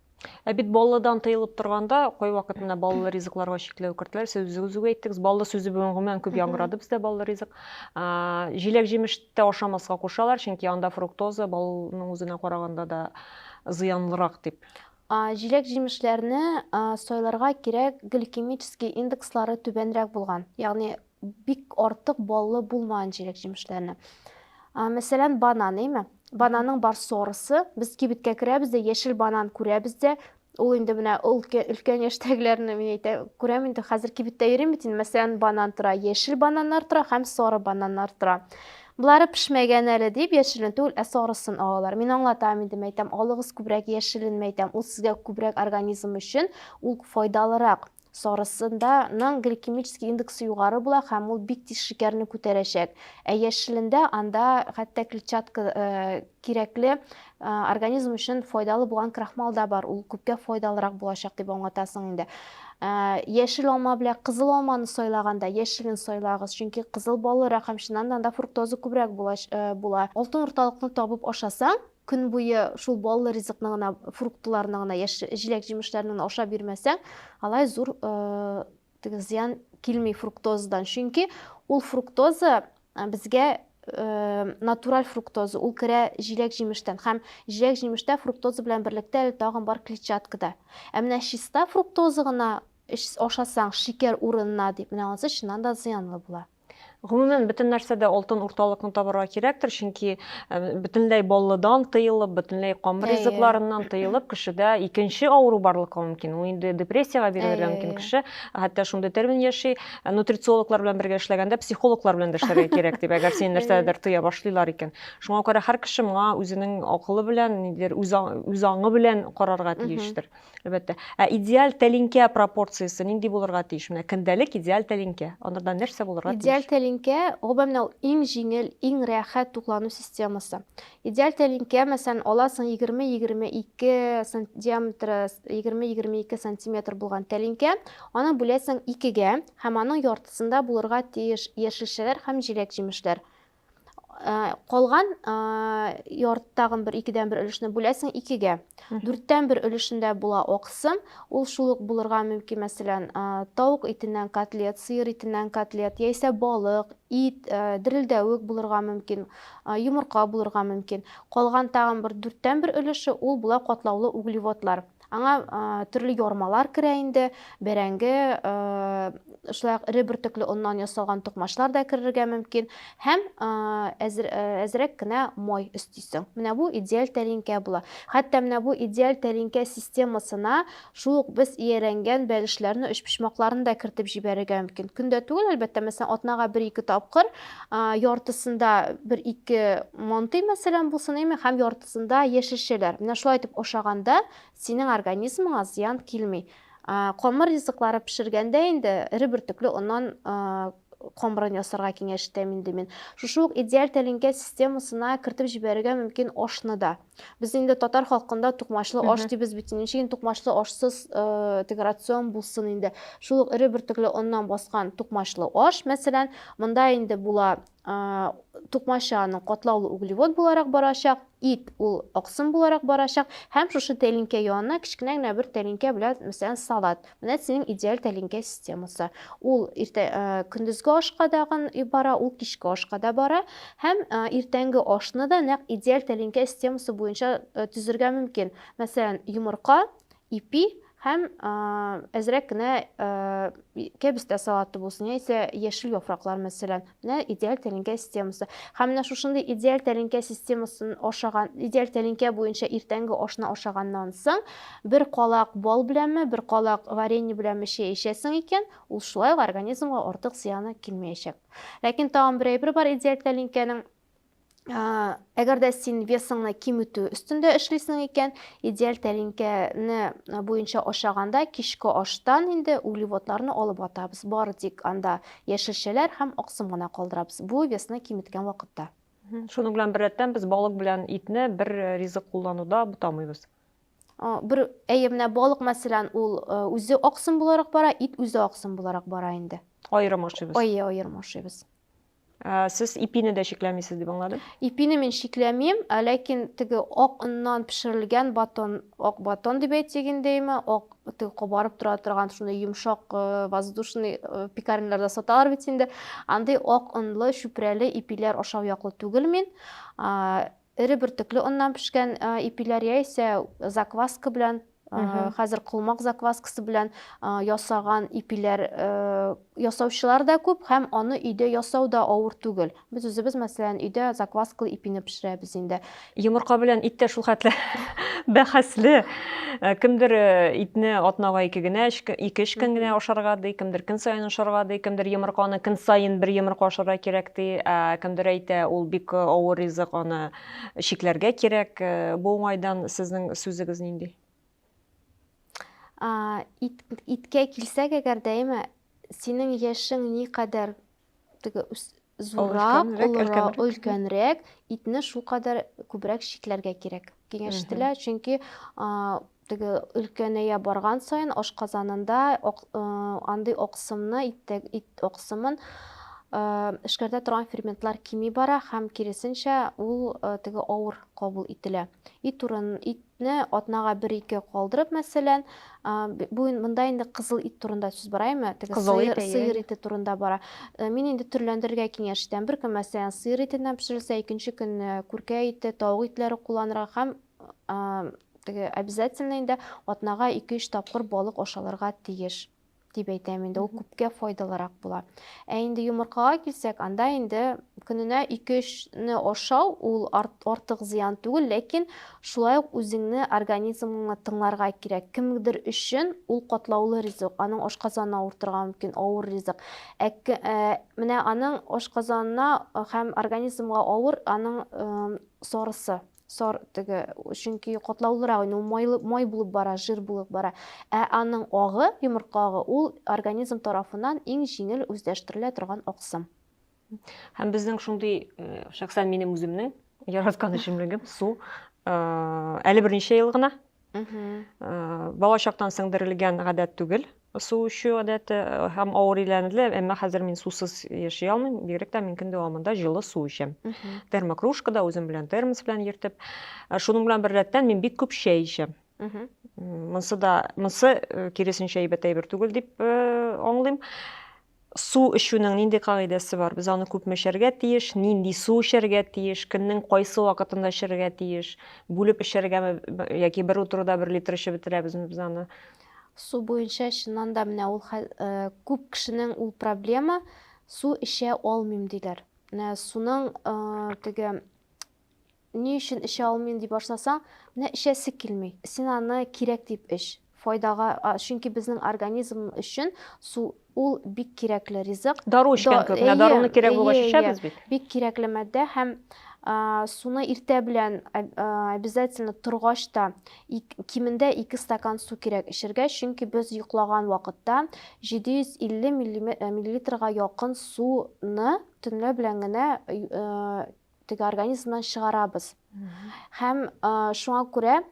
Ә бит баллыдан тыелып торганда, кайвакыт менә баллы ризыкларга чикләү кертелә. Сез үзегез үк әйттегез, баллы сүзе бүген гомумән күп яңгырады бездә баллы ризык. Җиләк-җимештә ашамаска кушалар, чөнки анда фруктоза балның үзенә караганда да зыянлырак дип. Җиләк-җимешләрне сайларга кирәк, гликемический индекслары түбәнрәк булган, ягъни бик артык баллы булмаган җиләк-җимешләрне. Мәсәлән, банан, әйме? Бананның бар сорысы, без кибеткә керәбез дә, яшел банан күрәбез дә, ул инде менә өлкән яшьтәгеләрне мин әйтәм, күрәм инде, хәзер кибеттә йөрим бит инде, мәсәлән, банан тора, яшел бананнар тора һәм сары бананнар тора. Болары пешмәгән әле дип, яшелен түгел, ә сарысын алалар. Мин аңлатам инде, мәйтәм, алыгыз күбрәк яшелен, мәйтәм, ул сезгә күбрәк организм өчен, ул файдалырак. Сарысында ның гликемический индексы югары була һәм ул бик тиз шикәрне күтәрәчәк. Ә яшелендә анда хәтта клетчатка кирәкле организм өчен файдалы булган крахмал да бар. Ул күпкә файдалырак булачак дип аңлатасың инде. Яшел алма белән кызыл алманы сайлаганда яшелен сайлагыз, чөнки кызыл баллырак һәм чыннан да анда фруктоза күбрәк була. Алтын урталыкны табып ашасаң, көн буе шул баллы ризыкны гына, фруктларны гына, яшь җиләк-җимешләрне генә ашап йөрмәсәң, алай зур теге зыян килми фруктозадан. Чөнки ул фруктоза безгә натураль фруктоза, ул керә җиләк-җимештән һәм җиләк-җимештә фруктоза белән берлектә әле тагын бар клетчаткада. Ә менә чиста фруктоза гына ашасаң, шикәр урынына дип, менә анысы чыннан да зыянлы була. Гомумән, бөтен нәрсәдә алтын урталыкны табарга кирәктер, чөнки бөтенләй баллыдан тыелып, бөтенләй камыр ризыкларыннан тыелып, кешедә икенче авыру барлыкка мөмкин. Ул инде депрессиягә бирелергә мөмкин кеше. Хәтта шундый термин яши, нутрициологлар белән бергә эшләгәндә психологлар белән дә эшләргә кирәк дип, әгәр син нәрсәдер тыя башлыйлар икән. Шуңа күрә һәр кеше моңа үзенең акылы белән, нидер үз аңы белән карарга тиештер. Әлбәттә. Ә идеаль тәлинкә пропорциясе нинди булырга тиеш? Менә көндәлек идеаль тәлинкә. Анарда нәрсә булырга тиеш? Идеаль тәлинкә, гомумән, ул иң җиңел, иң рәхәт туклану системасы. Идеаль тәлинкә, мәсәлән, аласың 20-22 см диаметры, 20-22 сантиметр булган тәлинкә, аны бүләсең икегә һәм аның яртысында булырга тиеш яшелчәләр һәм җиләк-җимешләр. калган ярты тагын бер икедән бер өлешне бүләсең икегә дүрттән бер өлешендә була аксым ул шул ук булырга мөмкин мәсәлән тавык итеннән котлет сыер итеннән котлет яисә балык ит дерелдәвек булырга мөмкин йомырка булырга мөмкин калган тагын бер дүрттән бер өлеше ул була катлаулы углеводлар Аңа төрле ярмалар керә инде, бәрәңге, шулай ук эре бөртекле оннан ясалган токмачлар да керергә мөмкин һәм әзрәк кенә май өстисең. Менә бу идеаль тәлинкә була. Хәтта менә бу идеаль тәлинкә системасына шул ук без иярәнгән бәлешләрне, өчпочмакларны да кертеп җибәрергә мөмкин. Көндә түгел, әлбәттә, мәсәлән, атнага бер-ике тапкыр яртысында бер-ике мантый, мәсәлән, булсын, әйме, һәм Шунда яшелчәләр. Менә шулай итеп ашаганда синең организмыңа зыян килми. Камыр ризыклары пешергәндә инде эре бөртекле оннан камырын ясарга киңәш итәм инде мин. Шушы ук идеаль тәлинкә системасына кертеп җибәрергә мөмкин ашны да. Без инде татар халкында тукмачлы аш дибез бит. Ничек инде тукмачлы ашсыз э, теге рацион булсын инде. Шул ук эре бөртекле оннан баскан тукмачлы аш, мәсәлән, монда инде була тукмача аның катлаулы углевод буларак барачак, ит ул аксым буларак барачак һәм шушы тәлинкә янына кечкенә генә бер тәлинкә белән, мәсәлән, салат. Менә синең идеаль тәлинкә системасы. Ул иртә көндезге ашка да бара, ул кичке ашка да бара һәм иртәнге ашны да нәкъ идеаль тәлинкә системасы буенча төзергә мөмкин. Мәсәлән, йомырка, ипи Һәм әзрәк кенә кәбес тә салаты булсын, яисә яшел яфраклар мәсәлән. Менә идеаль тәлинкә системасы. Һәм менә шушындый идеаль тәлинкә системасын ашаган, идеаль тәлинкә буенча иртәнге ашны ашаганнан соң бер калак бал беләнме, бер калак варенье беләнме чәй эчәсең икән, ул шулай ук организмга артык зыяны килмәячәк. Ләкин тагын бер әйбер бар идеаль тәлинкәнең әгәр дә син весыңны киметү өстендә эшлисең икән идеаль тәлинкәне буенча ашаганда кичке аштан инде углеводларны алып атабыз бары тик анда яшелчәләр һәм аксым гына калдырабыз бу весны киметкән вакытта шуның белән беррәттән без балык белән итне бер э, ризык куллануда бутамыйбыз бер әйе менә балык мәсәлән ул э, үзе аксым буларак бара ит үзе аксым буларак бара инде аерым ашыйбыз әйе аерым ашыйбыз Ә, сез ипине дә чикләмисез дип аңладым. Ипине мин чикләмим, ә ләкин теге ак оннан пешерелгән батон, ак батон дип әйтик индеме, ак теге кабарып тора торган шуны йомшак э, воздушный э, пекарняларда саталар бит инде. Андый ак онлы, чүпрәле ипиләр ашау яклы түгел мин. Эре бөртекле оннан пешкән ипиләр яисә закваска белән хәзер колмак закваскасы белән ясаган ипиләр ясаучылар да күп һәм аны өйдә ясау да авыр түгел без үзебез мәсәлән өйдә закваскалы ипине пешерәбез инде йомырка белән ит тә шулхәтле бәхәсле Э, кемдер э, итне атнага ике генә ике өч көн генә ашарга ди кемдер көн сайын ашарга ди кемдер йомырканы көн сайын бер йомырка ашарга кирәк ди ә кемдер әйтә ул бик э, авыр ризык аны чикләргә кирәк бу уңайдан сезнең сүзегез нинди иткә килсәк әгәр дә әйме синең яшең никадәр теге зуррак, олырак, өлкәнрәк итне шулкадәр күбрәк чикләргә кирәк. Киңәш ителә, чөнки теге өлкәнәя барган саен ашказанында андый аксымны, ит аксымын эшкәртә торган ферментлар кими бара һәм киресенчә ул теге авыр кабул ителә. Ит урын, ит не атнага бер ике калдырып мәсәлән бу монда инде кызыл ит турында сүз бара әйме теге сыер, сыер ите турында бара мин инде төрләндерергә киңәш итәм бер көн мәсәлән сыер итеннән пешерелсә икенче көн күркә ите тавык итләре кулланырга һәм теге обязательно инде атнага ике өч тапкыр балык ашалырга тиеш дип әйтәм инде ул күпкә файдалырак була ә инде йомыркага килсәк анда инде көненә ике өчне ашау ул артык зыян түгел ләкин шулай ук үзеңне организмыңны тыңларга кирәк кемдер өчен ул катлаулы ризык аның ашказаны авыр торырга мөмкин авыр ризык ә, ә, менә аның ашказанына һәм организмга авыр аның ә, сарысы Сар теге, чөнки катлаулырак инде, ул майлы, май булып бара, жир булып бара. Ә аның агы, йомырка агы, ул организм тарафыннан иң җиңел үзләштерелә торган аксым. Һәм безнең шундый, э, шәхсән минем үземнең яраткан эчемлегем су. Э, әле берничә ел гына Бала чактан сеңдерелгән гадәт түгел су эчү гадәте һәм авыр иләнде, әмма хәзер мин сусыз яши алмыйм, бигрәк тә мин көн дәвамында җылы су эчәм. Термокружкада үзем белән термос белән йөртеп. Шуның белән беррәттән мин бик күп чәй эчәм. Монсы да, монсы киресенчә әйбәт әйбер түгел дип аңлыйм. Су эчүнең нинди кагыйдәсе бар? Без аны күпме эчәргә тиеш? Нинди су эчәргә тиеш? Көннең кайсы вакытында эчәргә тиеш? Бүлеп эчәргәме яки бер утыруда бер литр эчеп бетерәбезме без аны? Су буенча чыннан да менә ул күп кешенең ул проблема, су эчә алмыйм диләр. Менә суның теге Ни өчен эчә алмыйм дип ашасаң, менә эчәсе килми. Син аны кирәк дип эч. Файдага, чөнки безнең организм өчен су ул бик кирәкле ризык. Дару эчкән кебек, менә даруны кирәк булгач эчәбез бит. Бик кирәкле матдә һәм суны иртә белән обязательно торгач та кимендә 2 стакан су кирәк эчергә, чөнки без йоклаган вакытта 750 миллилитрга якын суны төнлә белән генә теге организмнан чыгарабыз. Һәм шуңа күрә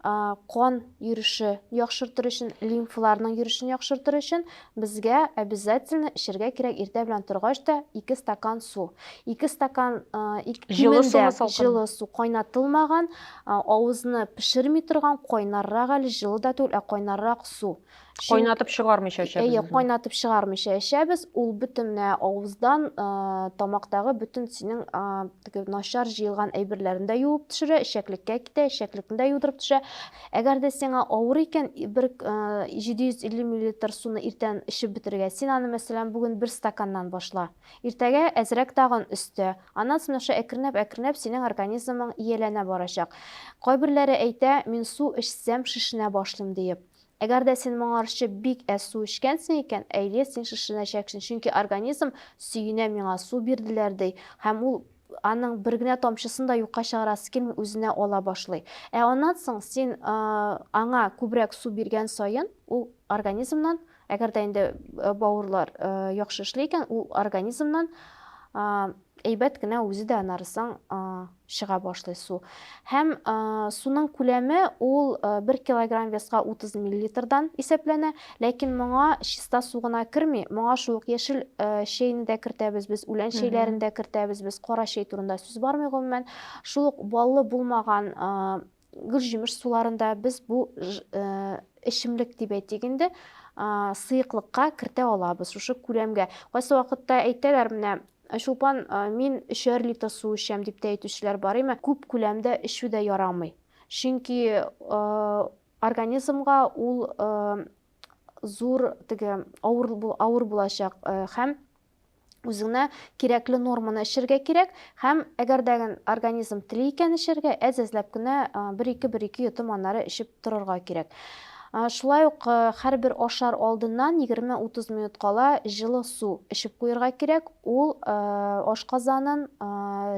кан йөреше яхшыртыр өчен, лимфаларның йөришен яхшыртыр өчен безгә обязательно эчәргә кирәк иртә белән торгач та 2 стакан су. 2 стакан җылы су, җылы су кайнатылмаган, авызны пешерми торган, кайнаррак әле җылы да түгел, ә кайнаррак су. Кайнатып чыгармыйча эчәбез. Әйе, кайнатып чыгармыйча эчәбез. Ул бөтенләй авыздан, тамактагы бөтен синең теге начар җыелган әйберләрен дә юып төшерә, эчәклеккә китә, эчәклекне дә юдырып төшә. Әгәр дә сиңа авыр икән, бер 750 мл суны иртән эчеп бетерергә. Син аны, мәсәлән, бүген бер стаканнан башла. Иртәгә әзрәк тагын өстә. Аннан соң аша әкренләп-әкренләп синең организмың ияләнә барачак. Кайберләре әйтә, мин су эчсәм шешенә башлыйм диеп. Әгәр дә син моңарчы бик әз су эчкәнсең икән, әйе, син шешенәчәксең, чөнки организм сөенә миңа су бирделәр, ди, һәм ул аның бер генә тамчысын да юкка чыгарасы килми, үзенә ала башлый. Ә аннан соң син аңа күбрәк су биргән саен, ул организмнан, әгәр дә инде бавырлар яхшы эшли икән, ул организмнан Әйбәт кенә үзе дә анарысың чыга башлый су. Һәм суның күләме ул 1 килограмм веска 30 миллилитрдан исәпләнә, ләкин моңа чиста су гына керми, моңа шул ук яшел чәйне дә кертәбез без, үлән чәйләрен дә кертәбез без, кара чәй турында сүз бармый гомумән. Шул ук баллы булмаган гөлҗимеш суларында без бу эчемлек дип әйтик инде сыеклыкка кертә алабыз шушы күләмгә кайсы вакытта әйтәләр менә чулпан мин өчәр литр су эчәм дип тә әйтүчеләр бар әмма күп күләмдә эчү дә ярамый чөнки организмга ул зур теге авыр авыр булачак һәм үзеңә кирәкле норманы эчәргә кирәк һәм әгәр дә организм тели икән эчәргә, әз-әзләп кенә бер-ике-бер-ике йотым аннары эчеп торырга кирәк. Шулай ук һәрбер ашар алдыннан 20-30 минут кала җылы су эчеп куярга кирәк, ул ашказанын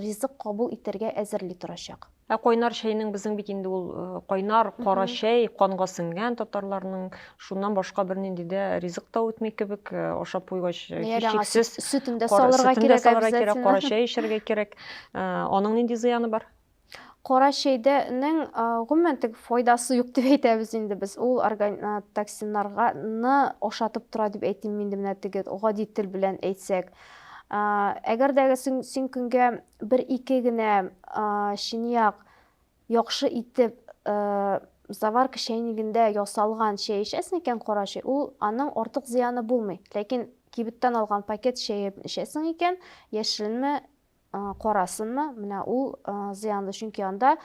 ризык кабул итәргә әзерли торачак. Ә кайнар чәйнең безнең бит инде ул э, кайнар кара чәй канга сеңгән татарларның шуннан башка бернинди дә ризык та үтми кебек э, ашап куйгач э, һичшиксез сөтен дә салырга кирәк салырга кирәк кара чәй эчәргә кирәк аның нинди зыяны бар кара чәйдәнең гомумән теге файдасы юк дип әйтәбез инде без ул токсиннарны ашатып тора дип әйтим инде менә теге гади тел белән әйтсәк әгәр дә син көнгә бер-ике генә чынаяк яхшы итеп заварка чәйнигендә ясалган чәй эчәсең икән, кара чәй, ул аның артык зыяны булмый. Ләкин кибеттән алган пакет чәе эчәсең икән, яшеленме, карасынмы, менә ул зыянлы, чөнки анда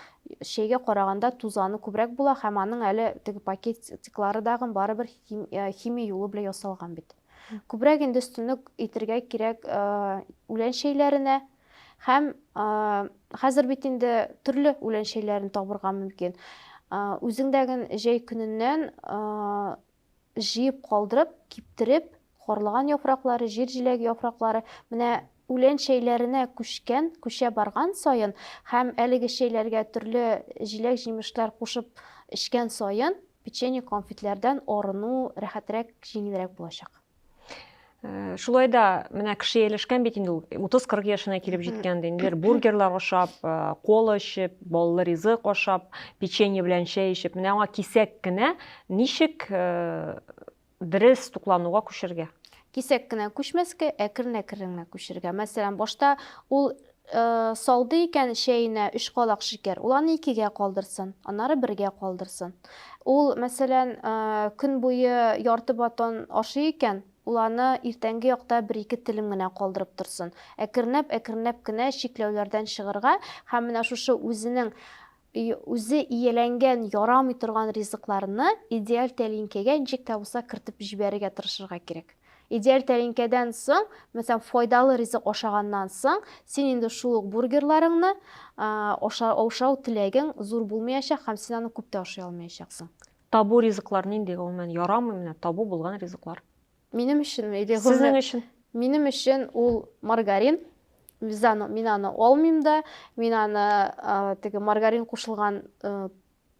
чәйгә караганда тузаны күбрәк була һәм аның әле теге пакетиклары дагын барыбер химия юлы белән ясалган бит. Күбрәк инде өстенлек итергә кирәк үлән чәйләренә һәм хәзер бит инде төрле үлән чәйләрен табырга мөмкин. Үзеңдәген җәй көненнән җыеп калдырып, киптереп, карлыган яфраклары, җир җиләге яфраклары менә үлән чәйләренә күчкән, күчә барган саен һәм әлеге чәйләргә төрле җиләк-җимешләр кушып эчкән саен Печенье, конфетләрдән арыну рәхәтрәк, җиңелрәк булачак. Э, шулай да менә кеше ияләшкән бит инде ул 30-40 яшенә килеп җиткән инде бургерлар ашап э, кола эчеп баллы ризык ашап печенье белән чәй эчеп менә аңа кисәк кенә ничек э, Дерес туклануга күчергә. Кисәк кенә күчмәскә, әкрен-әкрен генә күчергә. Мәсәлән, башта ул салды икән чәенә өч калак шикәр, ул аны икегә калдырсын, аннары бергә калдырсын. Ул, мәсәлән, көн буе ярты батон ашый икән, ул аны иртәнге якта бер-ике телем генә калдырып торсын. Әкренләп-әкренләп кенә чикләүләрдән чыгырга һәм менә шушы үзенең И, үзе ияләнгән, ярамый торган ризыкларны идеаль тәлинкәгә ничек тә булса кертеп җибәрергә тырышырга кирәк. Идеаль тәлинкәдән соң, мәсәлән, файдалы ризык ашаганнан соң, син инде шул ук бургерларыңны аша, ашау теләгең зур булмаячак һәм син аны күп тә ашый алмаячаксың. Табу ризыклар нинди, гомумән, ярамый менә табу булган ризыклар? Минем өченме или гомер? Сезнең өчен. Минем өчен ул маргарин. Без аны, мин аны алмыйм да, мин аны теге маргарин кушылган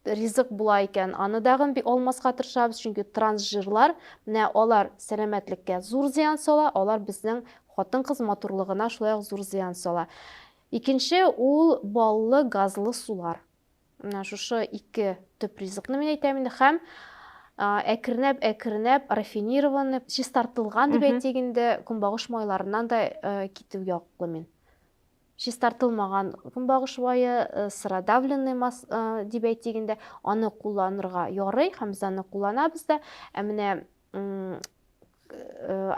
ризык була икән, аны дагын бик алмаска тырышабыз, чөнки трансжирлар, менә алар сәламәтлеккә зур зыян сала, алар безнең хатын-кыз матурлыгына шулай ук зур зыян сала. Икенче ул баллы, газлы сулар. Менә шушы ике төп ризыкны мин әйтәм инде һәм әкренәп әкренәп рафинированный чистартылган дип әйтик инде көнбагыш майларыннан да э, китү яклы мин чистартылмаган көнбагыш майы э, сыродавленный мас э, дип әйтик инде аны кулланырга ярый һәм без аны кулланабыз да ә менә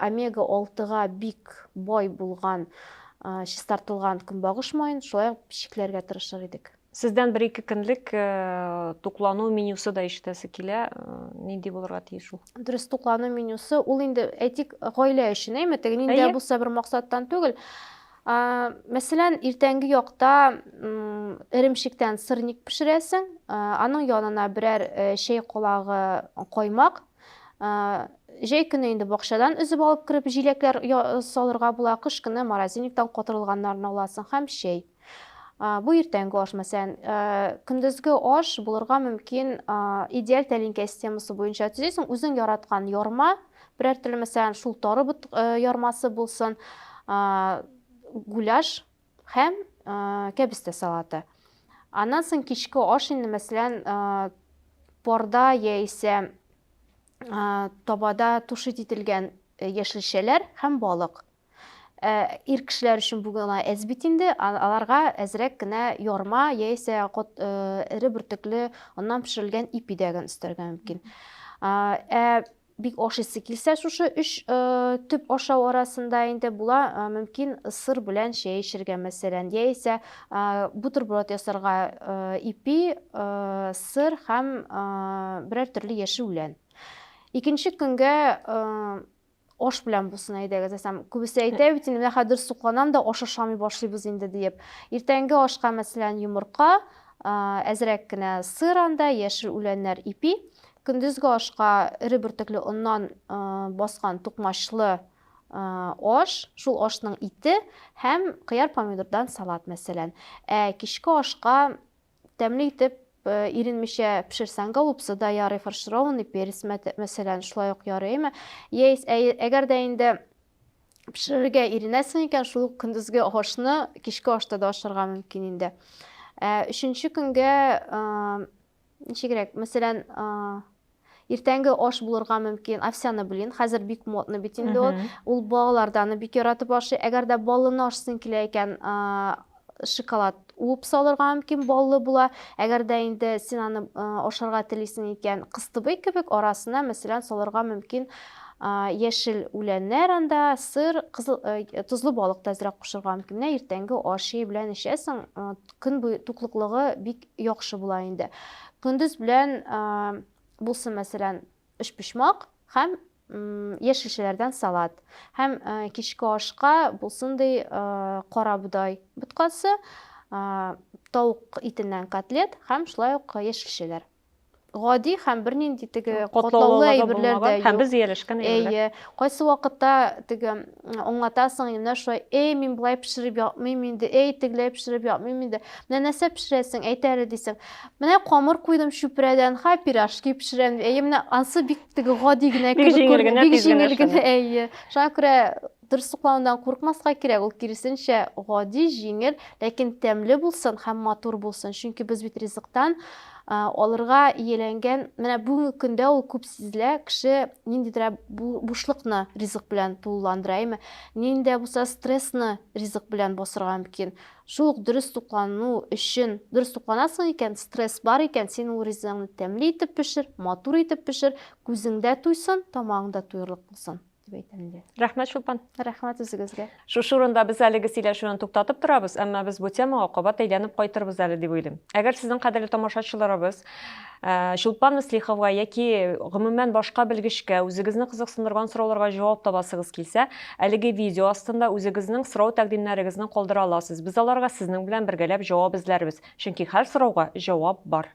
омега 6-га бик бай булган чистартылган көнбагыш маен шулай ук пешекләргә тырышыр идек. Сездән бер ике көнлек туклану менюсы да ишетәсе килә. Нинди булырга тиеш ул? Дөрес, туклану менюсы ул инде әйтик гаилә өчен, әйме, теге ниндә булса бер максаттан түгел. Мәсәлән, иртәнге якта эремчектән сырник пешерәсең, аның янына берәр чәй колагы каймак, Җәй көне инде бакчадан өзеп алып кереп җиләкләр салырга була, кыш көне морозильниктан котырылганнарны аласың һәм чәй. Бу иртәнге аш, мәсәлән, көндезге аш булырга мөмкин идеаль тәлинкә системасы буенча төзисең, үзең яраткан ярма, берәр төрле, мәсәлән, шул тары ярмасы булсын, гуляш, Һәм кәбестә салаты. Аннан соң кичке аш инде, мәсәлән, порда яисә табада тушит ителгән яшелчәләр һәм балык. Ир кешеләр өчен бу гына әз бит инде, аларга әзрәк кенә ярма яисә эре бөртекле оннан пешерелгән ипи дәген өстәргә мөмкин. Ә Бик ашыйсы килсә шушы өч төп ашау арасында инде була, мөмкин сыр белән чәй эчергә мәсәлән, яисә бутерброд ясарга ипи, сыр һәм берәр төрле яшеүлән. Икенче көнгә аш белән булсын әйдәгез әсәм күбесе әйтә бит инде менә хәзер сукланам да аш ашамый башлыйбыз инде диеп иртәнге ашка мәсәлән йомырка әзрәк кенә сыр анда яшел үләннәр ипи Көндезге ашка эре бөртекле оннан баскан тукмачлы аш, шул ашның ите һәм кыяр-помидордан салат, мәсәлән. Ә кичке ашка тәмле итеп Э, иренмичә пешерсәң голубцы да ярый фаршированный перец мәсәлән шулай ук ярый әйме әгәр дә инде пешерергә иренәсең икән шул ук көндезге ашны кичке ашта да ашарга мөмкин инде ә, өченче көнгә ә, Ничегрәк, мәсәлән, иртәнге аш булырга мөмкин овсяный блин хәзер бик модный бит инде ул ул балалар да аны бик яратып ашый әгәр дә баллыны ашысын килә икән шоколад уып салырга мөмкин баллы була әгәр дә инде син аны ашарга телисең икән кыстыбый кебек арасына мәсәлән салырга мөмкин яшел үләннәр анда сыр кызыл тозлы балык та әзрәк кушырга мөмкин менә иртәнге аш белән эчәсең көн буе туклыклыгы бик яхшы була инде. Көндез белән булсын, мәсәлән, өчпочмак һәм яшелчәләрдән салат. Һәм кичке ашка булсын ди кара бодай боткасы, тавык итеннән котлет һәм шулай ук яшелчәләр. гади һәм бернинди теге катлаулы әйберләр дә юк. Һәм без ияләшкән әйберләр. Әйе. Кайсы вакытта теге аңлатасың, менә шулай, эй, мин болай пешереп япмыйм инде, эй, тегеләй пешереп япмыйм инде. Менә нәрсә пешерәсең, әйт әле дисең. Менә камыр куйдым чүпрәдән, ха, пирожки пешерәм. Әйе, менә ансы бик теге гади генә кебек күренә, бик җиңел генә, әйе. Шуңа күрә Тырсыкланудан куркмаска кирәк, ул киресенчә, гади, җиңел, ләкин тәмле булсын һәм матур булсын, чөнки без бит ризыктан алырга ияләнгән, менә бүгенге көндә ул күп сизелә, кеше ниндидер бушлыкны ризык белән тулыландыра, әйме, ниндидә булса стрессны ризык белән басырга мөмкин. Шул ук дөрес туклану өчен, дөрес тукланасың икән, стресс бар икән, син ул ризыгыңны тәмле итеп пешер, матур итеп пешер, күзеңдә туйсын, тамагыңда туерлык булсын. дип әйтәм инде. Рәхмәт, Чулпан. Рәхмәт үзегезгә. Шушы урында без әлеге сөйләшүне туктатып торабыз, әмма без бу темага кабат әйләнеп кайтырбыз әле дип уйлыйм. Әгәр сезнең кадерле тамашачыларыбыз Чулпан Мөслиховга яки гомумән башка белгечкә үзегезне кызыксындырган сорауларга җавап табасыгыз килсә, әлеге видео астында үзегезнең сорау тәкъдимнәрегезне калдыра аласыз. Без аларга сезнең белән бергәләп җавап эзләрбез, чөнки һәр сорауга җавап бар.